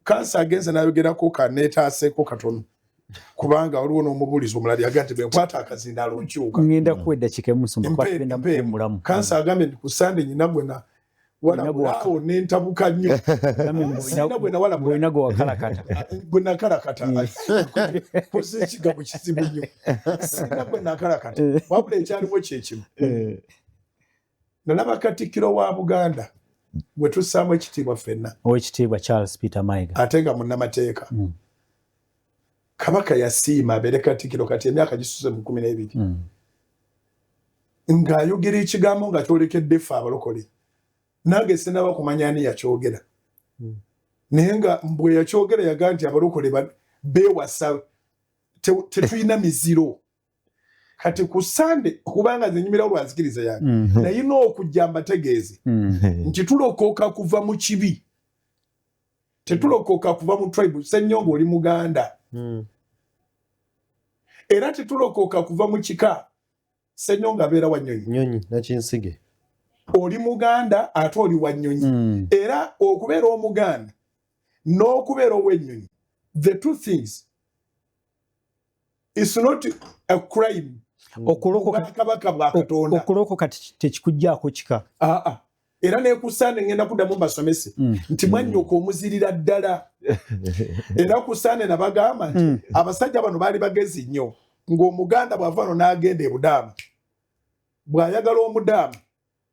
kansa agenze nayogerako kanetaaseko katono kubanga waliwo n'omubuulizi omulala yaga nti bwenkwata akazindaalo nkyuka ngenda kuwa eddakiika emusumakubagendamukuwumulamu kansa agambye nti ku sande nyina gwena walabulaawo nentabuka nnyo bwenakalakata kosa ekigambo kizibu nnyo sina bwenakalakata wabula ekyaliwo kyekimu eh. nalaba katikkiro wa buganda gwe tussaamu ekitiibwa ffenna owekitiibwa charles peter maiga ate nga munnamateeka mm. kabaka yasiima abeere katikkiro kati emyaka gisuze mu kumi n'ebiri mm. ng'ayogera ekigambo nga kyolekedde ffe abalokole nange sinaba kumanya ani yakyogera mm. naye nga mbwe yakyogera yaga nti abalokole beewasa tetulina miziro kati ku sande kubanga nze nyumira lwa nzikiriza yange mm -hmm. naye n'okujja mbategeeze mm -hmm. nti tulokoka kuva mu kibi tetulokoka kuva mu tribe senyonga oli muganda mm. era tetulokoka kuva mu kika senyonga abeera wa nyonyi nyonyi nakinsige oli muganda ate oli wa nyonyi mm. era okubeera omuganda n'okubeera ow'ennyonyi the two things it's not a crime hmm. okulokoka tekikujjaako kika ah, ah. era nekusaana ngenda kuddamu mbasomese hmm. nti mwanyoko hmm. omuzirira ddala era kusaana nabagamba nti abasajja bano baali bagezi nnyo ng'omuganda bw'ava no n'agenda ebudaama bw'ayagala omudaama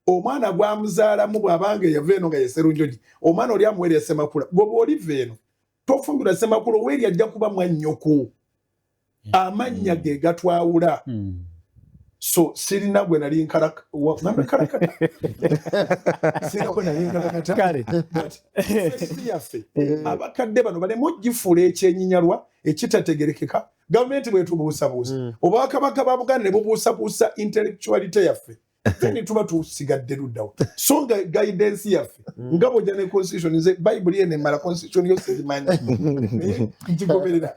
omwana gwamuzaalamu bw'abanga eyava eno nga yeserunjogi omwana oli amuwerya semakula gwe bw'oliva eno tofumbirwa semakula owerya ajja kuba mwannyoko hmm. amannya ge gatwawula hmm. so sirina gwe nali nkalakayaffe eh. abakadde bano balemu ogifuula ekyenyinyalwa ekitategerekeka gavumenti bwetubuusabuusa hmm. obwakabaka ba buganda ne bubuusabuusa intellectuality yaffe feni tuba tusigadde luddawa so nga guidance yaffe mm. nga bwojja ne constitution nze bayibuli eno emala constitution yo sigimanyi ngigoberera